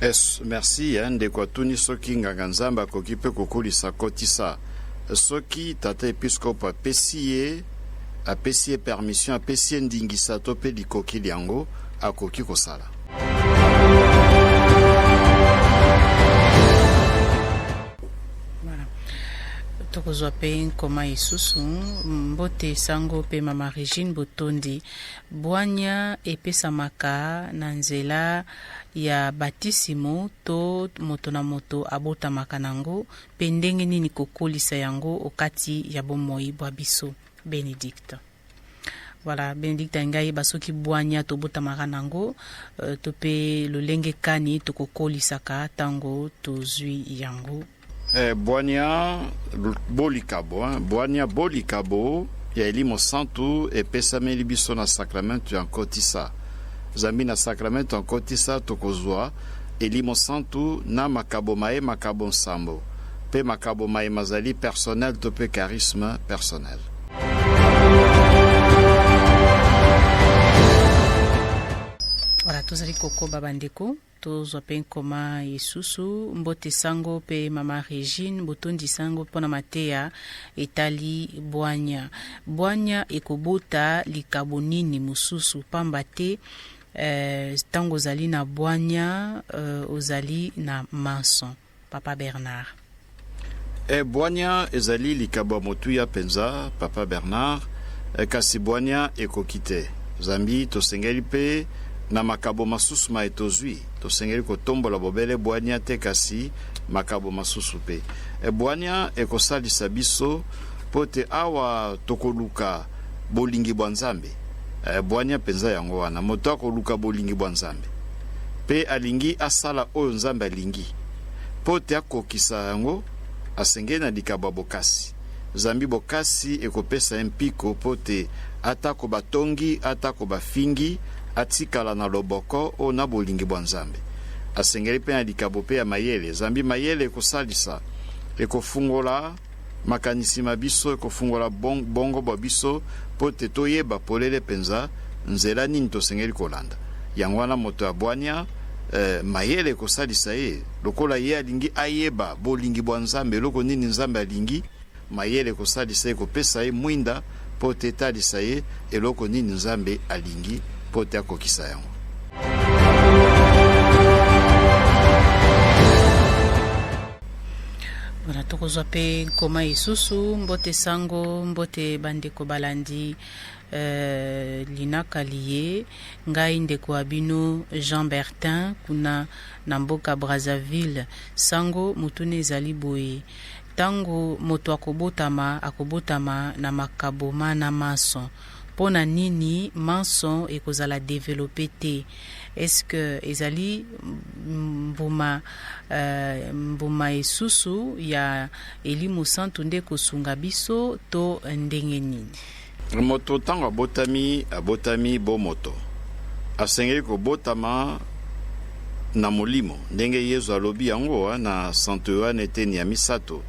Es, merci eh, ndeko atuni soki nganga nzambe akoki mpe kokolisa kotisa soki tata episkopo apesi ye apesi ye permission apesi ye ndingisa to mpe likoki lyango akoki kosala tokozwa mpe nkoma lisusu mbote sango mpe mama regine botondi Bwanya epesamaka na nzela ya batisimo to moto na moto abotamaka nango, mpe ndenge nini kokolisa yango okati ya bomoi bwa biso. Benedicte. Voilà, Benedicte Ainga yeba soki bwanya tobotamaka nango euh, to mpe lolenge kani tokokolisaka ntango tozwi yango. Eh, bwania bolikabo hein? bwania bolikabo ya elimo santu epesameli biso na sakramento ya nkotisa zambi na sakramento ya nkotisa tokozwa elimo santu na makabo maye makabo nsambo mpe makabo maye mazali personnel to mpe charisme personnel voilà tozali kokoba bandeko tozwa mpe nkoma isusu mbote sango mpe mama regine botondi sango mpo na mateya etali bwanya bwanya ekobota likabo nini mosusu mpamba te eh, ntango eh, ozali na bwanya eh, ozali na manso Papa Bernard. Eh, bwanya ezali likabo ya motuya mpenza, Papa Bernard, eh, kasi bwanya ekoki te. Zambi tosengeli mpe na makabo masusu maye tozwi. Tosengeli kotombola bobele bwanya te, kasi makabo masusu mpe. Eh, bwanya ekosalisa biso mpo te awa tokoluka bolingi bwa Nzambe. Eh, bwanya mpenza yango wana, moto akoluka bolingi bwa Nzambe. mpe alingi asala oyo Nzambe alingi. Mpo te akokisa yango, asengeli na likabo ya bokasi, zambi bokasi ekopesa ye mpiko mpo te atako batongi, atako bafingi, atikala na loboko o na bolingi bwa Nzambe. Asengeli mpe na likabo mpe ya mayele, zambi mayele ekosalisa, ekofungola, Makanisi ma biso ekofungola boongo bwa biso mpo te toyeba polele mpenza nzela nini tosengeli kolanda. Yango wana, moto ya bwania, ee, mayele ekosalisa ye. Lokola ye alingi ayeba bolingi bwa Nzambe, eloko nini Nzambe alingi, mayele ekosalisa ye kopesa ye mwinda mpo te etalisa ye eloko nini Nzambe alingi mpo te akokisa yango. Wana tokozwa mpe nkoma isusu mbote sango mbote bandeko balandi euh, linaka liye ngai ndeko wa bino jean bertin kuna na mboka brazzaville sango motuna ezali boye ntango moto akobotama akobotama na makabo mana manso mpo na nini manso ekozala develope te est-ce que ezali mbuma euh, mbuma esusu ya elimo santu nde kosunga biso to ndenge nini moto ntango abotami abotami bo moto asengeli kobotama na molimo ndenge yezu alobi yango na santo yohane eteni ya misato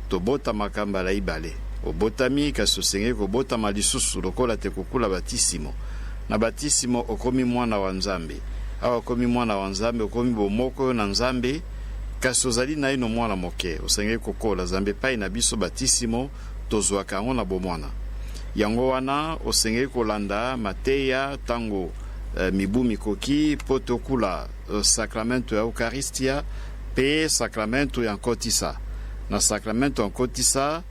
tobotamaka mbala ibale obotami kasi osengeli kobotama lisusu lokola te kokula batisimo Na batisimo okomi mwana wa Nzambe. Awa okomi mwana wa Nzambe, okomi bomoko yo na Nzambe, kasi ozali naino mwana moke, osengeli kokola. Zambi epai na biso, batisimo tozwaka yango na bomwana. Yango wana osengeli kolanda mateya ntango eh, mibu mikoki mpo tokula eh, sakramento ya Ukaristia mpe sakramento ya nkotisa. Na sakramento ya nkotisa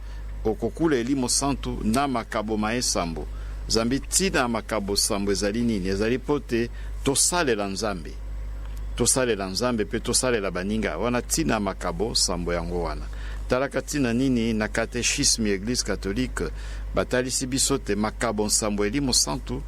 Okokula elimo santu na makabo maye sambo. Zambi ntina ya makabo sambo ezali nini? Ezali mpo te tosalela Nzambe. Tosalela Nzambe mpe tosalela baninga. Wana ntina ya makabo sambo yango wana. Talaka ntina nini na Katechisme ya Eglise Katolike batalisi biso te makabo nsambo elimo santu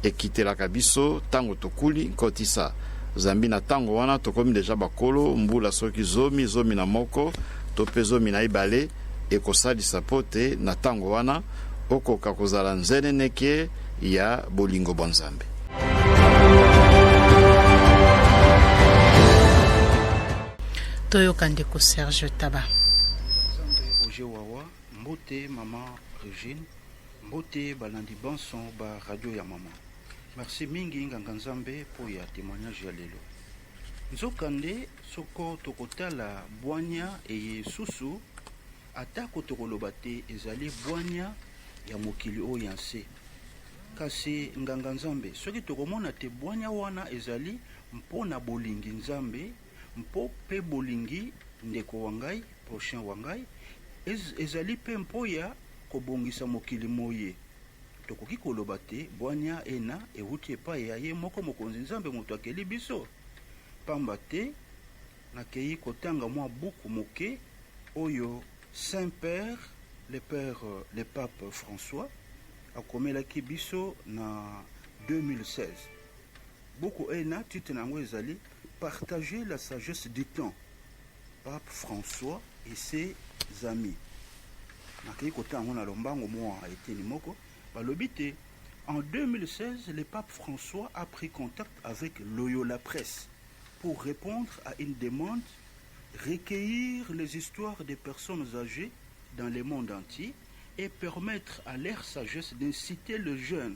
ekitelaka biso ntango tokuli nkotisa. Zambi na ntango wana tokomi deja bakolo, mbula soki zomi, zomi na moko, to mpe zomi na ibale. Ekosalisa mpo te na ntango wana okoka kozala nzeneneke ya bolingo bwa Nzambe. Toyoka ndeko Serge Taba. Roger Wawa, mbote mama Regine, mbote balandi banso ba radio ya mama. Merci mingi nganga Nzambe mpo ya temoignage ya lelo. Nzokande, soko tokotala bwanya eye esusu, atako tokoloba te ezali bwanya ya mokili oyo ya nse, kasi nganga Nzambe, soki tokomona te bwanya wana ezali mpo na bolingi Nzambe mpo mpe bolingi ndeko wa ngai, prochain wa ngai, ez, ezali mpe mpo ya kobongisa mokili moye. Tokoki koloba te bwania ena ewuti epai ya ye moko Mokonzi Nzambe moto akeli biso? Pamba te nakeyi kotanga mwa buku moke oyo Saint-Père le Père le Pape François akomelaki biso na 2016. Buku ena titre na yango ezali Partager la sagesse du temps. Pape François et ses amis nakei kotanga yango na lombango mwa eteni moko balobi te en 2016 le pape François a pris contact avec Loyola Presse pour répondre à une demande recueillir les histoires des personnes âgées dans le monde entier et permettre à leur sagesse d'inciter le jeune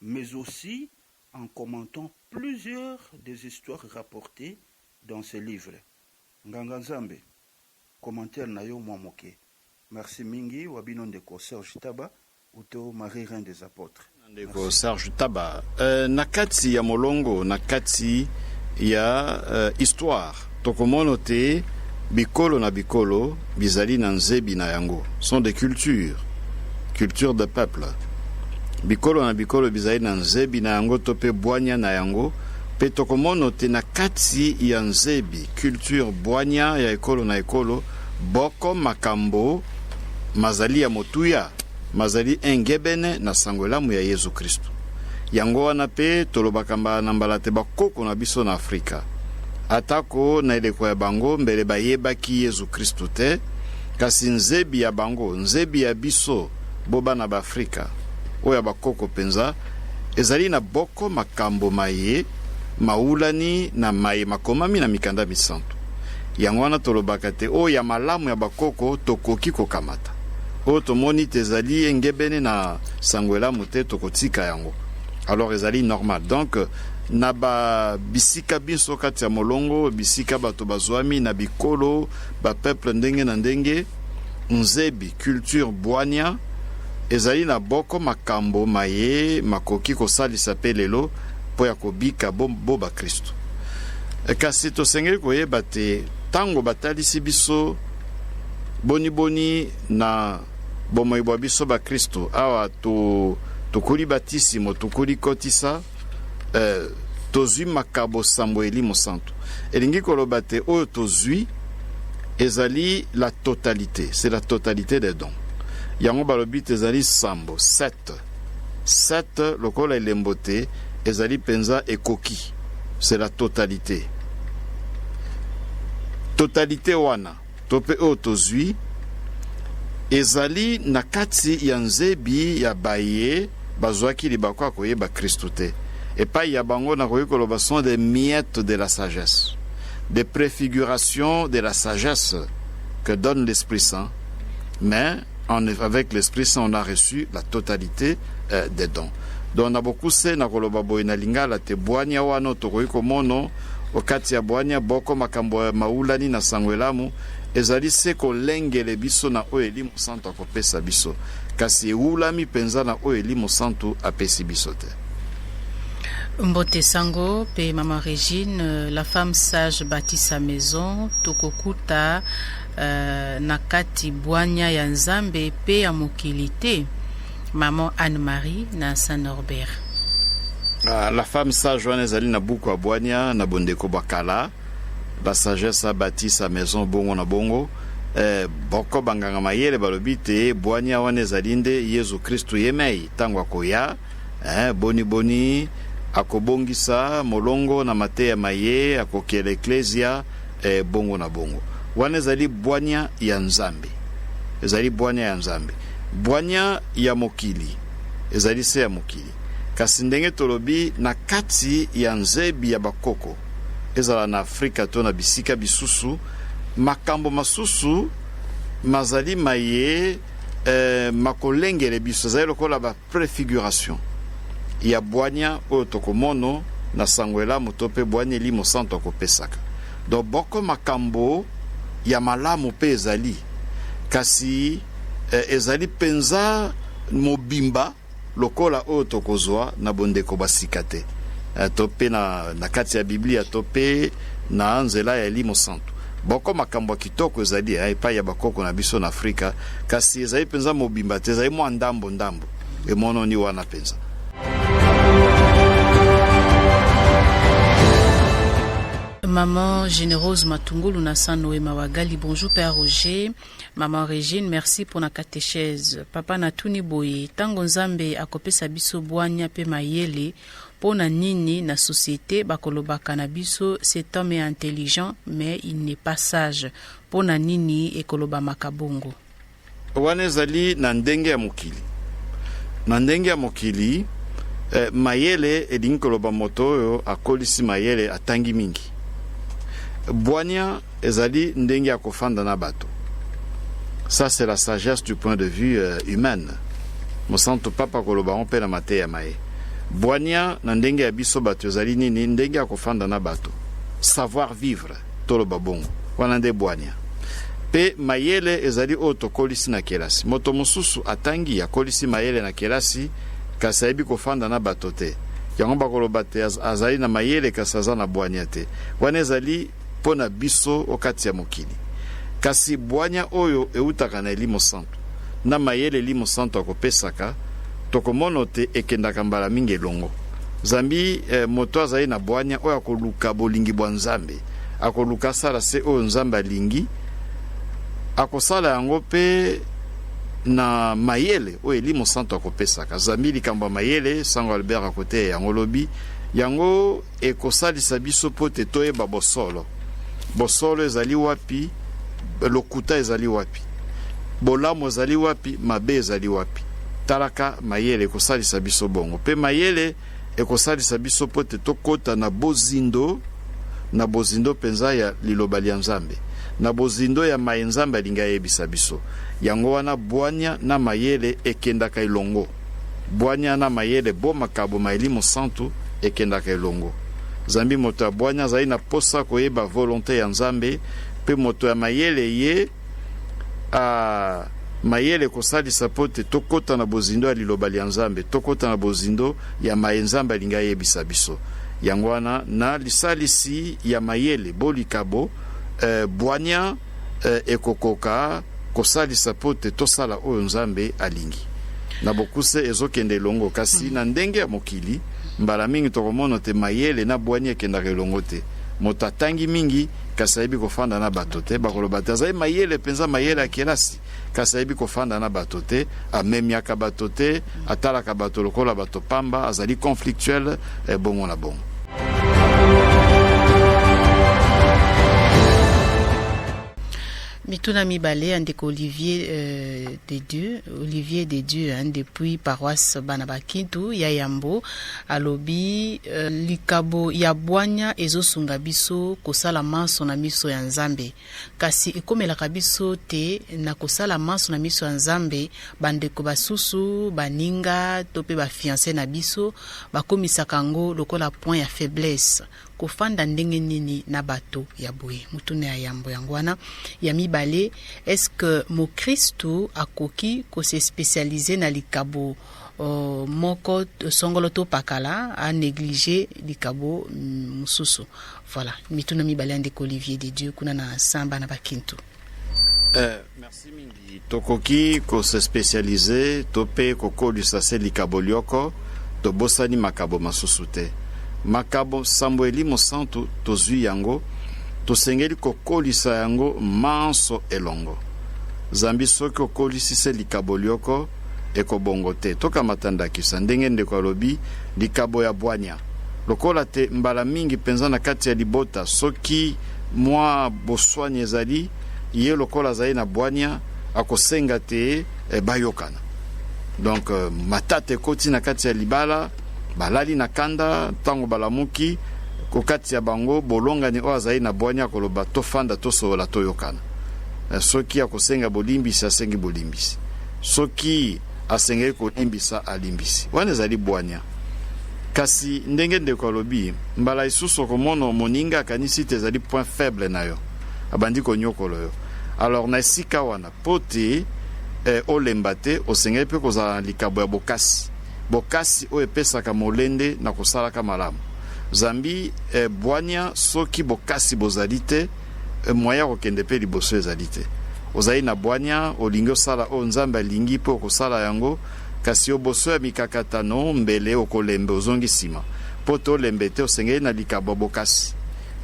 mais aussi en commentant plusieurs des histoires rapportees dans ce livre. Nganga Nzambe, commentaire na yo mua moke. Merci mingi wa bino ndeko Serge Taba uto Marie Reine des Apotres. Ndeko Merci. Serge Taba, eh, na kati ya molongo, na kati ya eh, histoire, Tokomono te bikolo na bikolo bizali na nzebi na yango, sont des cultures, culture de peuple. Bikolo na bikolo bizali na nzebi na yango to pe bwanya na yango, pe tokomono te na kati ya nzebi, culture, bwanya ya ekolo na ekolo boko makambo mazali ya motuya. Mazali engebene na Sango Elamu ya Yezu Kristu. Yango wana pe tolobaka mbala na mbala te bakoko na biso na Afrika, ata ko na eleko ya bango, mbele bayebaki Yezu Kristu te, kasi nzebi ya bango, nzebi ya biso bo bana ba Afrika, oyo ya bakoko penza, ezali na boko makambo maye mawulani na maye makomami na Mikanda Misantu. Yango wana tolobaka te oyo ya malamu ya bakoko tokoki kokamata. oyo tomoni te ezali engebene na sango elamu te tokotika yango alors ezali normal donc na ba bisika binso kati ya molongo bisika bato bazwami na bikolo ba peuple ndenge na ndenge nzebi culture bwania ezali na boko makambo maye makoki kosalisa mpe lelo mpo ya kobika bo, bo bakristo kasi tosengeli koyeba te ntango batalisi biso Boniboni na bomoi bwa biso bakristu awa to, tokuli batisimo tokuli kotisa eh, tozwi makabo sambo elimo santu elingi koloba te oyo tozwi ezali la totalité c'est la totalité des dons yango balobi te ezali sambo 7 Cette lokola elembo te, ezali mpenza ekoki, c'est la totalité. Totalité wana to mpe oyo tozwi ezali na kati ya nzebi ya baye bazwaki libaku ya koyeba Kristu te. Epai ya bango nakoki koloba sont des miettes de la sagesse, des préfigurations de la sagesse que donne l'Esprit Saint, mais en, avec l'Esprit Saint, on a reçu la totalité euh, des dons. Donc na bokuse na koloba boye na lingala te bwania wana tokoki komono okati ya bwania boko makambo ya maulani na sango elamu ezali se kolengele biso na oyo elimu santu akopesa biso kasi eulami mpenza na oyo elimu santu apesi biso te mbote sango mpe mama regine la femme sage bâtit sa maison tokokuta uh, na kati bwanya ya Nzambe pe ya mokili te maman Anne Marie na Saint Norbert uh, la femme sage wana ezali na buku ya bwanya na bondeko bwa kala la sagesse a bâti sa maison bongo na bongo eh, boko banganga mayele balobi te bwanya wana ezali nde yezu kristu ye mei ntango akoya eh, boni boni akobongisa molongo na mateya maye akokela eklezia E bongo na bongo. Wana ezali bwania ya Nzambe. Ezali bwania ya Nzambe. Bwania ya mokili ezali se ya mokili. Kasi ndenge tolobi, na kati ya nzebi ya bakoko, ezala na Afrika to na bisika bisusu, makambo masusu mazali maye eh, makolengele biso, ezali lokola ba Prefiguration ya bwania oyo tokomono na Sango Elamu to pe bwania Elimo Santu akopesaka. Donc boko makambo ya malamu pe ezali, kasi ezali penza mobimba lokola oyo tokozua na bondeko bwa sika te, to pe na kati ya Biblia to pe na nzela ya Elimo Santu. Boko makambo ya kitoko ezali eh, epai ya bakoko na biso na Afrika, kasi ezali mpenza mobimba te, ezali mwa ndambo ndambo. Emononi wana mpenza. Maman Générose Matungulu na Sanoe Mawagali, bonjour Père Roger. Maman Régine, merci pour la catéchèse. Papa Natuni Boye, tango Nzambe akopesa biso bwanya pe mayele, Pona nini na societe bakolobaka na biso cet homme est intelligent mais il n'est pas sage? Pona nini ekolobamaka bongo? Wana ezali na ndenge ya mokili. Na ndenge ya mokili, eh, mayele elingi koloba moto oyo akolisi mayele, atangi mingi. Bwania Ezali ndenge ya kofanda na bato. Ça c'est la sagesse du point de vue euh, humaine. Mosantu Papa koloba yango mpe na mateya ma ye. Bwania na ndenge ya biso bato ezali nini? Ndenge ya kofanda na bato, savoir vivre, toloba bongo, wana nde bwania. Mpe mayele ezali oyo tokolisi na kelasi. Moto mosusu atangi, akolisi mayele na kelasi, kasi ayebi kofanda na bato te yango bakoloba te azali na mayele kasi aza na bwania te wana ezali mpo na biso o kati ya mokili, kasi bwanya oyo eutaka na elimo santu na mayele elimo santu akopesaka, tokomono te ekendaka mbala mingi elongo. Zambi eh, moto azali na bwanya oyo akoluka bolingi bwa Nzambe, akoluka asala se oyo Nzambe alingi, akosala yango mpe na mayele oyo elimo santu akopesaka. Zambi likambo ya mayele, Sango Albert akoteya yango lobi yango. Ekosalisa biso mpo ete toyeba bosolo. Bosolo ezali wapi? Lokuta ezali wapi? Bolamu ezali wapi? Mabe ezali wapi? Talaka mayele ekosalisa biso bongo, mpe mayele ekosalisa biso mpo ete tokota na bozindo, na bozindo mpenza ya liloba lya Nzambe, na bozindo ya maye Nzambe alingi ayebisa biso. Yango wana bwania na mayele ekendaka elongo. Bwanya na mayele bo makabo ma elimo santu ekendaka elongo. Zambi moto ya bwanya azali na posa koyeba volonte ya Nzambe, mpe moto ya mayele ye a mayele kosalisa mpo te tokota na bozindo ya liloba lya Nzambe, tokota na bozindo ya maye Nzambe alingi ayebisa biso. Yango wana, na lisalisi ya mayele bo likabo, ee, bwanya, Ee, ekokoka kosalisa mpo te tosala oyo Nzambe alingi. Na bokuse, ezokende elongo. Kasi na ndenge ya mokili, mbala mingi tokomono te mayele na bwanya ekendaka elongo te. Moto atangi mingi, kasi ayebi kofanda na bato te, bakoloba te, Azali mayele mpenza, mayele ya kelasi. kasi ayebi kofanda na bato te amemiaka bato te atalaka bato lokola bato pamba azali conflictuel eh, bongo na bongo mituna mibale ya ndeko olivier euh, de dieu olivier de dieu hein, depuis paroisse bana bakintu ya yambo alobi euh, likabo ya bwanya ezosunga biso kosala manso na miso ya nzambe Kasi ekomelaka biso te na kosala manso na miso ya Nzambe, bandeko basusu, baninga to mpe bafianse na biso bakomisaka yango lokola point ya faiblesse. Kofanda ndenge nini na bato ya boye? Motuna ya yambo yango wana. Ya mibale, eske mokristu akoki kosespesialize na likabo uh, moko songolo to pakala a neglige likabo mm, mosusu? Voilà, mituna mibale ya ndeko Olivier de Dieu kuna na samba na bakintu. Eh, merci mingi. Tokoki ko se specialiser to pe kokolisa se likabo lioko tobosani makabo masusu te. Makabo sambo elimo santu tozwi yango tosengeli kokolisa yango manso elongo. Zambi soki okolisi se likabo lioko ekobongo te. Tokamata ndakisa ndenge ndeko alobi likabo ya bwanya Lokola te mbala mingi mpenza na kati ya libota, soki mwa boswani ezali, ye lokola azali na bwania, akosenga te eh, bayokana. Donc euh, matata ekoti na kati ya libala, balali na kanda, ntango balamuki kokati ya bango bolongani oyo azali na bwania akoloba tofanda tosolola toyokana. Eh, soki akosenga bolimbisi asengi bolimbisi soki Asengeli kolimbisa, alimbisi. Wana ezali bwanya. Kasi, ndenge ndeko alobi, mbala isusu okomono moninga akanisi te ezali point faible na yo. Abandi konyokolo yo. Alors, na esika wana, po te eh, olemba te, osengeli pe kozala na likabo ya bokasi. Bokasi oyo epesaka molende na kosalaka malamu. Zambi eh, bwanya soki bokasi bozali te, Eh, moyen ya kokende mpe liboso ezali te. Ozali na bwanya, olingi osala oyo Nzambe alingi mpe okosala yango, kasi oboso ya mikakatano, mbele okolembe, ozongi nsima. Mpo te olembe te, osengeli na likabo ya bokasi.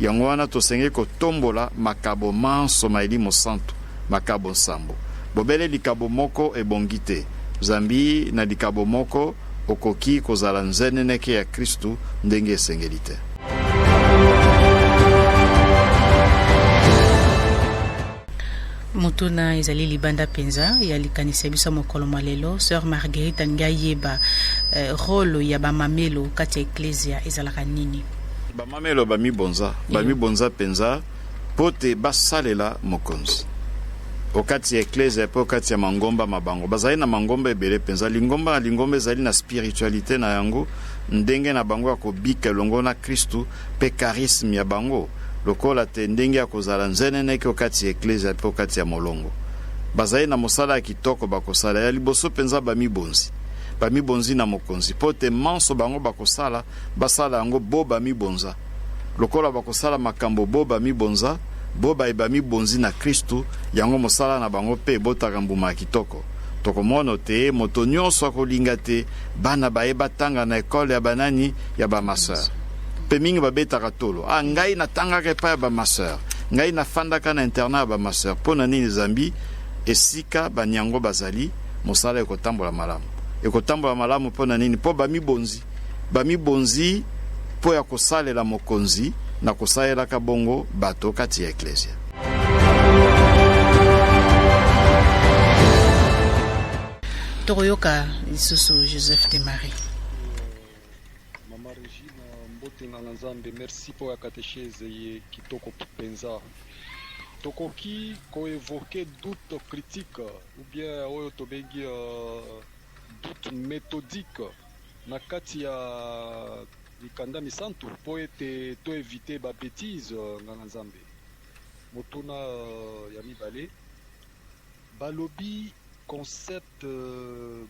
Yango wana tosengeli kotombola makabo manso ma elimo santu, makabo nsambo. Bobele likabo moko ebongi te, zambi na likabo moko okoki kozala nzeneneke ya Kristu ndenge esengeli te. motuna ezali libanda mpenza ya likanisi ya biso mokolo mwa lelo sœur marguerite alingi ayeba eh, role ya bamamelo kati ya eklesia ezalaka nini bamamelo bamibonza bamibonza mpenza mpo te basalela mokonzi okati ya eklesia mpe okati ya mangomba ma bango bazali na mangomba ebele mpenza lingomba na lingomba ezali na spiritualité na yango ndenge na bango ya kobika elongo na Kristu, mpe charisme ya bango, lokola te ndenge ya kozala nzeneneke o kati ya eklezia mpe o kati ya molongo. Bazali na mosala ya kitoko bakosala, ya liboso mpenza bamibonzi. Bamibonzi na Mokonzi, mpo te manso bango bakosala, basala yango bo bamibonza. Lokola bakosala makambo bo bamibonza, bo baye bamibonzi na Kristu, yango mosala na bango mpe ebotaka mbuma ya kitoko. Tokomono te moto nionso akolinga te bana ba ye batanga na ecole ya banani? Ya ba masoeur. Pe mingi babetaka tolo, ah ngai natangaka epai ya ba masoeur, ngai nafandaka na internat ya ba masoeur. Po na nini zambi esika ba niango bazali mosala ekotambola malamu? Ekotambola malamu po na nini? Po bamibonzi. Bamibonzi mpo ya kosalela Mokonzi, na kosalelaka bongo bato kati ya Eklezia. Tokoyoka lisusu Joseph de Marie. Mama Regina, mbote nganga Nzambe, merci mpo ya katechese ye kitoko mpenza. Tokoki koevoke doute critique ou bien oyo tobengi uh, doute methodique na kati ya mikanda misantu mpo ete to eviter ba betises. Nganga Nzambe, motuna ya mibale, balobi concept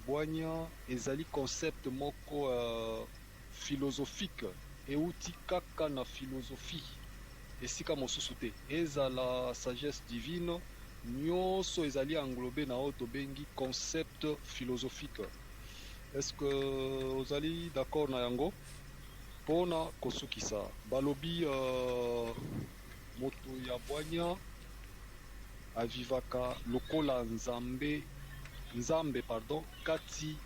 bwanya ezali concept moko philosophique euti kaka na philosophie, esika mosusu te. Ezala sagesse divine, nionso ezali englober na oyo tobengi concept philosophique. Est ce que ozali d'accord na yango? Pona kosukisa, balobi moto ya bwanya a vivaka lokola Nzambe, Nzambe pardon, kati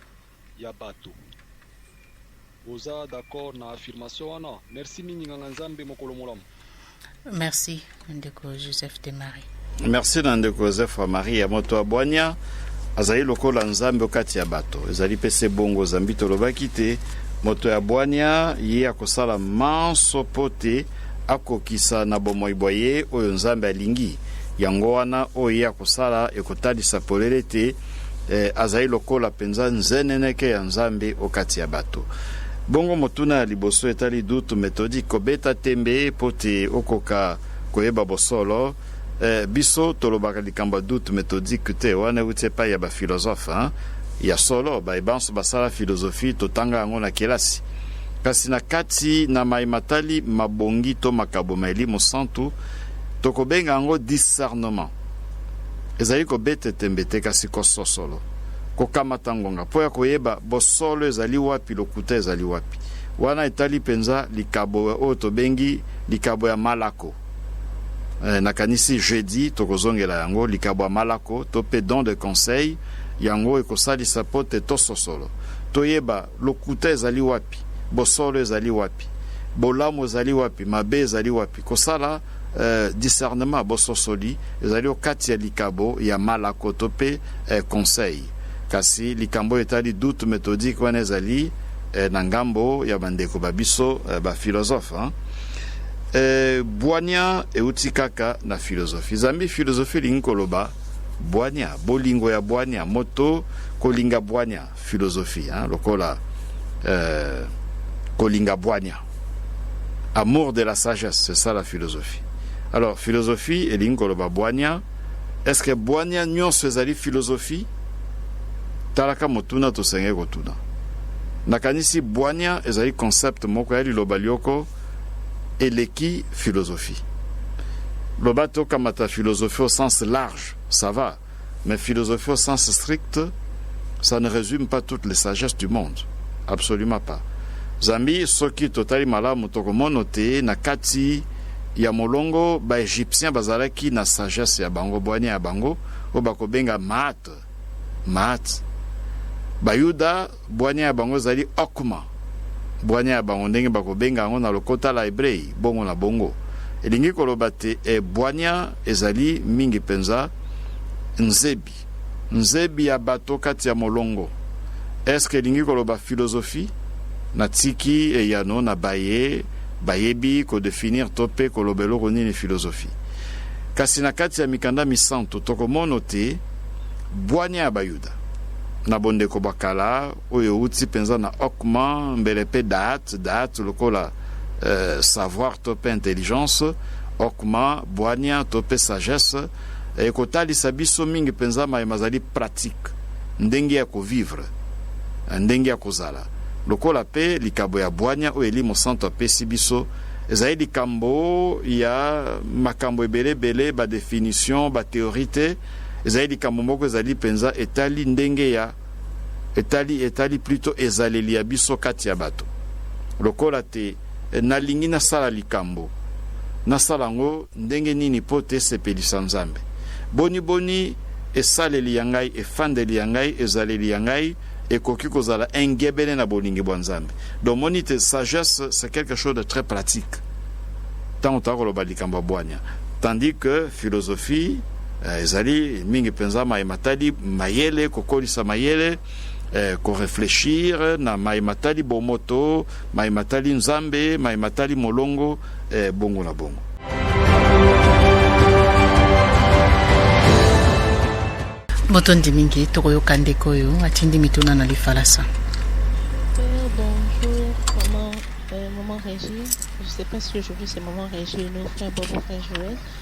ya bato. Oza d'accord na affirmation wana? Merci mingi nganga Nzambe mokolo molamu. Merci ndeko Joseph de Marie. Merci na ndeko Joseph wa Marie ya moto ya bwanya azali lokola Nzambe okati ya bato. Ezali pe se bongo zambi tolobaki te moto ya bwanya ye akosala manso mpo te akokisa na bomoi bwa ye oyo Nzambe alingi. Yango wana oyo ye akosala ekotalisa polele te e, azali lokola mpenza nzeneneke ya Nzambe o kati ya bato. Bongo motuna ya liboso etali dutu metodi kobeta tembe mpo te okoka koyeba bosolo. Eh, biso tolobaka likambo ya dutu metodike te, wana euti epai ya bafilozofe hein? ya solo baye banso basala filozofi totanga yango na kelasi kasi na kati na mai matali mabongi to makabo ma elimo santu tokobenga yango discernement Ezali kobete tembe te, kasi kososolo, kokamata ngonga po ya koyeba bosolo ezali wapi, lokuta ezali wapi. Wana etali penza likabo oyo tobengi likabo ya Malako. Eh, nakanisi jeudi tokozongela yango, likabo ya Malako, to pe don de conseil. Yango ekosalisa po te tososolo, toyeba lokuta ezali wapi, bosolo ezali wapi, bolamu ezali wapi, mabe ezali wapi. Kosala. Eh, discernement, bososoli, ezali o kati ya likabo ya malako to pe eh, conseil. Kasi likambo oyo etali doute methodique wana ezali eh, na ngambo ya bandeko ba biso eh, ba philosophe hein? eh, bwania euti kaka na philosophie. Zambi philosophie elingi koloba bwania, bolingo ya bwania, moto kolinga bwania. philosophie hein, lokola euh, kolinga bwanya amour de la sagesse c'est ça la philosophie alors philosophie elingi koloba bwanya est ce que bwanya nyonso ezali philosophie talaka motuna tosengeli kotuna nakanisi bwanya ezali concept moko ya liloba lyoko eleki philosophie loba tokamata philosophie au sens large ça va Mais philosophie au sens strict, ça ne résume pas toutes les sagesses du monde. Absolument pas. Zambi soki totali malamu tokomono te na kati ya molongo ba Egyptiens bazalaki na sagesse ya bango bwanya ya bango oyo bakobenga maat maat bayuda Bwanya ya bango ezali Okma, bwanya ya bango, ndenge bakobenga yango na lokota la Ebrei, bongo na bongo. Elingi koloba te, e, bwanya ezali mingi mpenza, nzebi, nzebi ya bato kati ya molongo. Est-ce que elingi koloba philosophie? Natiki eyano na baye bayebi ko definir to mpe koloba eloko nini philosophie. Kasi na kati ya mikanda misantu, tokomono te bwanya ya Bayuda. na bondeko bwa kala oyo euti mpenza na okman mbele mpe daat daat lokola euh, savoir to mpe intelligence okman bwania to mpe sagesse ekotalisa biso mingi mpenza maye mazali pratique ndenge ya kovivre ndenge ya kozala lokola mpe likabo ya bwania oyo elimo santo apesi biso ezali likambo ya makambo ebele ebele badefinition bateori te Ezali likambo moko ezali mpenza etali ndenge ya etali etali plutot ezaleli ya biso kati ya bato lokola te nalingi nasala likambo nasala yango ndenge nini mpo te esepelisa nzambe boni boni esaleli ya ngai efandeli ya ngai ezaleli ya ngai ekoki kozala engebene na bolingi bwa nzambe domoni te sagesse c'est quelque chose de très pratique ntango toya koloba likambo ya bwania tandis que philosophie Eh, ezali mingi mpenza mai matali mayele kokolisa mayele eh, koreflechir na mai matali bomoto mai matali nzambe mai matali molongo eh, bongo na bongo botondi mingi tokoyoka ndeko oyo atindi mituna na lifalasa Maman Régis, je ne sais pas si aujourd'hui c'est Maman Régis, nos frères Bobo, frère Joël,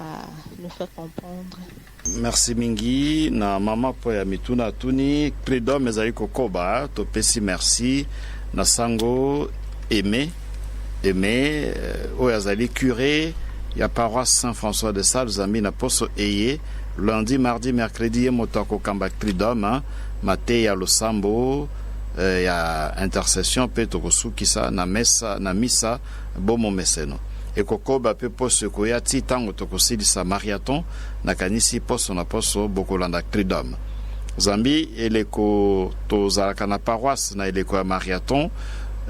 à nous faire comprendre. Merci mingi na mama mpo ya mituna atuni Credom ezali kokoba topesi merci na sango Aimé Aimé euh, oyo azali curé ya paroisse Saint François de Sales zambi na poso eye lundi mardi mercredi ye moto akokamba Credom mateya losambo euh, ya intercession mpe tokosukisa na mesa na misa Bo momeseno ekokoba pe poso ekoya ti tango tokosilisa mariathon nakanisi poso na poso bokolanda cridom zambi eleko tozalaka na paroisse na eleko ya mariathon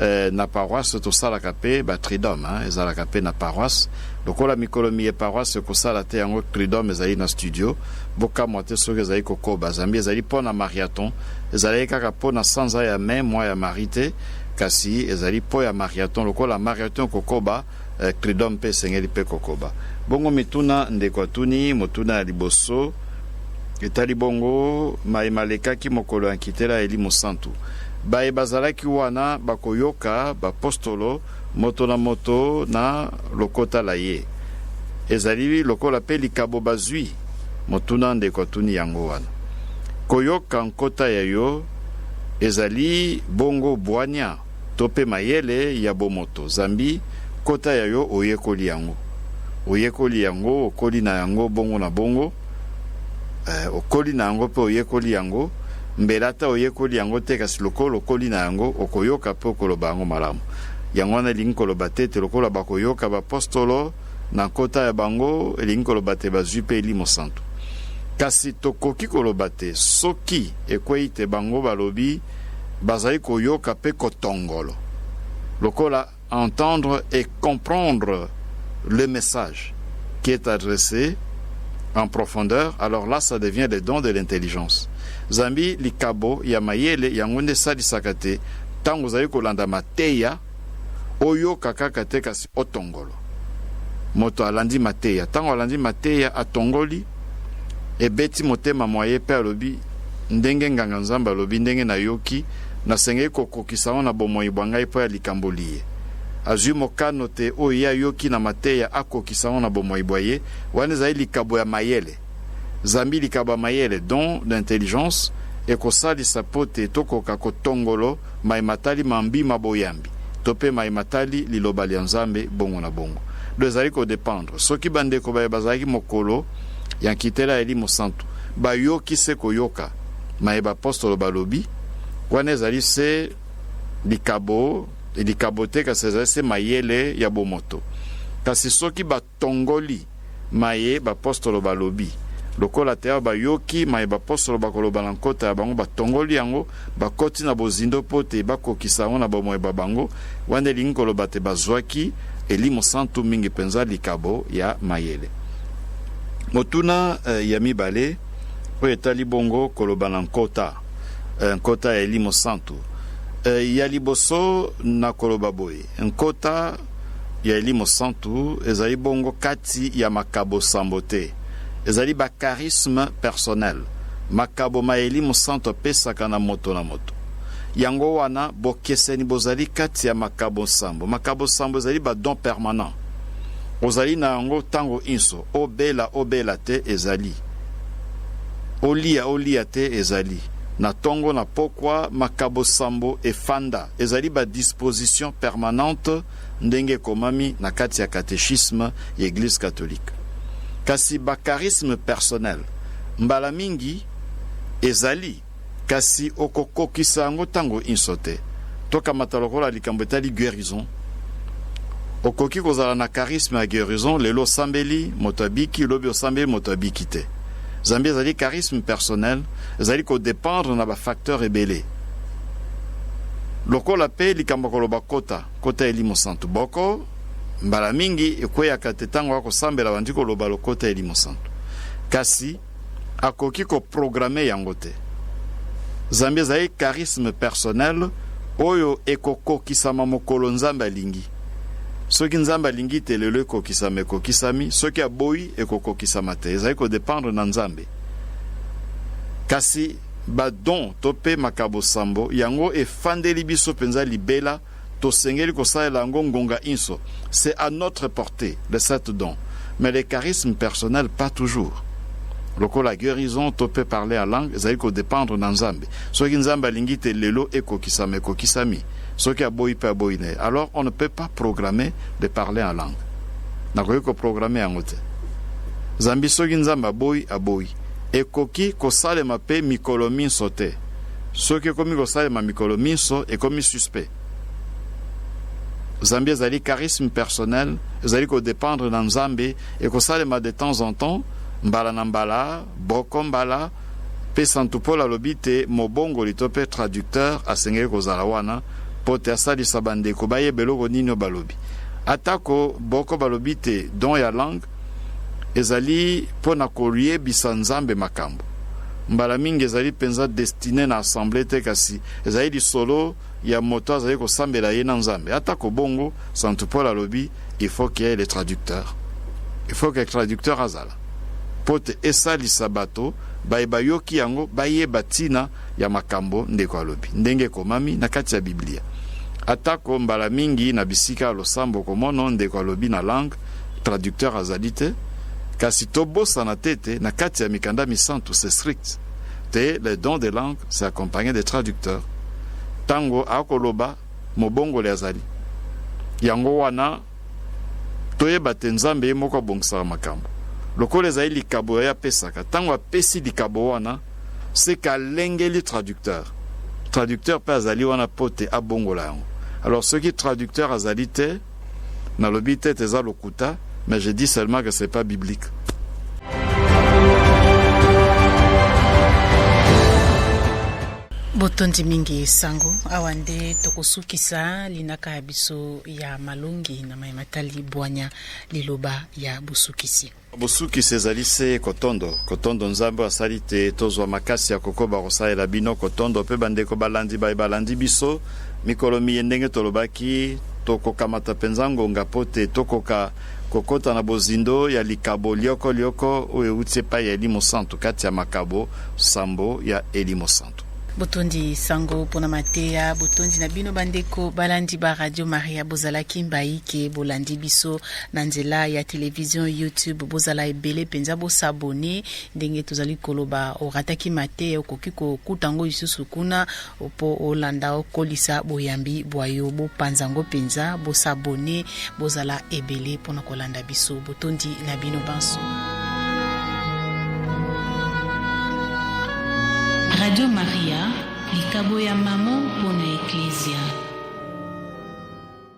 eh, na paroisse tosalaka pe ba tridom hein, ezalaka pe na paroisse lokola mikolo miye paroisse ekosala te yango cridom ezali na studio bokamwa te soki ezali kokoba zambi ezali po na mariathon ezalaki kaka po na sanza ya mai mwa ya mari te Kasi ezali mpo ya mariathon. Lokola mariathon ekokoba, Clidom mpe esengeli mpe kokoba. Bongo mituna ndeko atuni, motuna ya liboso etali bongo maye malekaki mokolo ya nkitela ya elimo santu. Baye bazalaki wana bakoyoka bapostolo moto na moto na lokota la ye. Ezali lokola mpe likabo bazwi. Motuna ndeko atuni yango wana. Koyoka nkota ya yo. Ezali bongo bwania to pe mayele ya bomoto zambi kota ya yo oyekoli yango. Oyekoli yango, okoli na yango bongo na bongo. Ee, okoli na yango pe oyekoli yango. Mbele ata oyekoli yango te, kasi lokola okoli na yango, okoyoka pe okoloba yango malamu. Yango wana elingi koloba te ete lokola bakoyoka bapostolo, na nkota ya bango, elingi koloba te bazwi mpe elimo santu. Kasi tokoki koloba te soki ekwei te bango balobi bazali koyoka mpe kotongolo lokola entendre et comprendre le message qui est adressé en profondeur alors là ça devient le don de l'intelligence zambi likabo ya mayele yango nde esalisaka te ntango ozali kolanda mateya Oyoka kaka te kasi otongolo. Moto alandi mateya, tango alandi mateya, atongoli, ebeti motema mwa ye pe alobi, Ndenge nganga Nzambe alobi, ndenge nayoki, nasengeli kokokisa yango na bomoi bwa ngai mpo ya likambo liye. Azwi mokano te oyo ye ayoki na mateya akokisa yango na bomoi bwa ye, wana ezali likabo ya mayele. Zambi likabo ya mayele, don d'intelligence, ekosalisa mpo te tokoka kotongolo maye matali mambi ma boyambi to pe maye matali liloba lia Nzambe, bongo na bongo. Donc ezali ko dependre soki ba ndeko baye bazalaki mokolo ya nkitela ya elimo santu bayoki se koyoka maye bapostolo balobi, wana ezali se likabo likabo te kasi ezali se mayele ya bomoto. Kasi soki ba. Tongoli maye bapostolo balobi. Lokola teao bayoki maye bapostolo bakoloba na nkota ya bango, batongoli yango, bakoti na bozindo mpo te bakokisa yango na bomoi bwa bango, wana elingi koloba te bazwaki elimo santu, mingi mpenza likabo ya mayele. Motuna ya mibale oyo etali bongo koloba na nkota, nkota ya elimo santu. Ya liboso, nakoloba boye. Nkota ya elimo santu ezali bongo kati ya makabo sambo te. Ezali ba charismes personnels, makabo maye elimo santu apesaka na moto na moto. Yango wana, bokeseni bozali kati ya makabo nsambo. Makabo sambo ezali ba dons permanents. Ozali na yango tango inso. Obela, obela te, ezali. Oliya, oliya te, ezali. Na tongo, na pokwa, makabo sambo efanda. Ezali ba dispositions permanentes ndenge ekomami na kati ya catechisme ya Eglise catholique. Kasi ba charismes personnels mbala mingi ezali, kasi okokokisa yango tango inso te. Tokamata lokola likambo etali guerison. Okoki kozala na charisme ya guerison, lelo osambeli moto abiki, lobi osambeli moto abiki te. Zambi ezali charisme personnel, ezali ko dependre na ba facteurs ebele. Lokola pe likambo ya koloba kota, kota ya elimo santu boko, mbala mingi ekweyaka te ntango akosambela abandi koloba lokota ya elimo santu. Kasi akoki koprograme yango te. Zambi ezali charisme personnel oyo ekokokisama mokolo Nzambe alingi. Soki Nzambe alingi te lelo ekokisama ekokisami, soki aboyi ekokokisama te. Ezali kodependre na Nzambe. Kasi Ba dons to mpe makabo sambo yango efandeli biso mpenza libela, tosengeli kosalela yango ngonga inso, c'est à notre portee, les sept dons, mais les charismes personnels pas toujours. Lokola guerison to mpe parler en langue ezali ko dependre na Nzambe. Soki Nzambe alingi te lelo ekokisama, ekokisami. Soki aboyi mpe aboyi na ye. Alors on ne peut pas programmer de parler en langue. Nakoki ko programmer yango te. Zambi soki Nzambe aboyi, aboyi. Ekoki kosalema pe mikolo minso te. Soki ekomi kosalema mikolo minso, ekomi suspect. Zambi ezali charisme personnel, ezali ko dependre na Nzambe, ekosalema de temps en temps, mbala na mbala, boko mbala, pe Santu Paul alobi te mobongoli to pe traducteur asengeli kozala wana po te asalisa bandeko bayeba eloko nini oyo balobi. Atako boko balobi te don ya langue, ezali mpo na koyebisa Nzambe makambo. Mbala mingi ezali mpenza destine na assemblee te, kasi ezali lisolo ya moto azali kosambela ye na Nzambe. Atako bongo, Santu Paul alobi, il faut qu'il y ait le traducteur. Il faut que traducteur azala mpo te esalisa bato baye bayoki yango bayeba ntina ya makambo ndeko alobi, ndenge ekomami na kati ya Biblia. Atako mbala mingi na bisika ya losambo komono ndeko alobi na langue traducteur azali te, kasi tobosana te ete na kati ya mikanda misantu c'est strict te le don de langue c'est accompagné de traducteur. Ntango akoloba mobongoli azali. Yango wana toyeba te Nzambe ye moko abongisaka makambo. Lokola ezali likabo ya ye apesaka, ntango apesi likabo wana seka alengeli traducteur. Traducteur mpe azali wana mpo te abongola yango. Alors soki traducteur azali te, Na lobi te te eza lokuta mais je dis seulement que c'est pas biblique. botondi mingi sango awa nde tokosukisa linaka ya biso ya malongi na mai matali bwanya liloba ya bosukisi Bosukisi ezali se kotondo kotondo Nzambe asali te tozwa makasi ya kokoba kosalela bino kotondo mpe bandeko balandi baye balandi biso mikolo miye ndenge tolobaki tokokamata mpenza ngonga mpo te tokoka kokota na bozindo ya likabo lyoko lyoko oyo euti epai ya elimo santu kati ya makabo sambo ya elimo santu Botondi sango pona mateya, botondi na bino bandeko balandi ba Radio Maria, bozalaki mbaike bolandi biso na nzela ya television YouTube, bozala ebele penza bo s'abonner ndenge tozali koloba, orataki mateya okoki kokuta yango lisusu kuna po olanda okolisa boyambi bwa yo, bopanza yango penza, bo s'abonner Bozala ebele mpo na kolanda biso. Botondi na bino banso. Radio Maria, likabo ya maman mpo na Eklezia.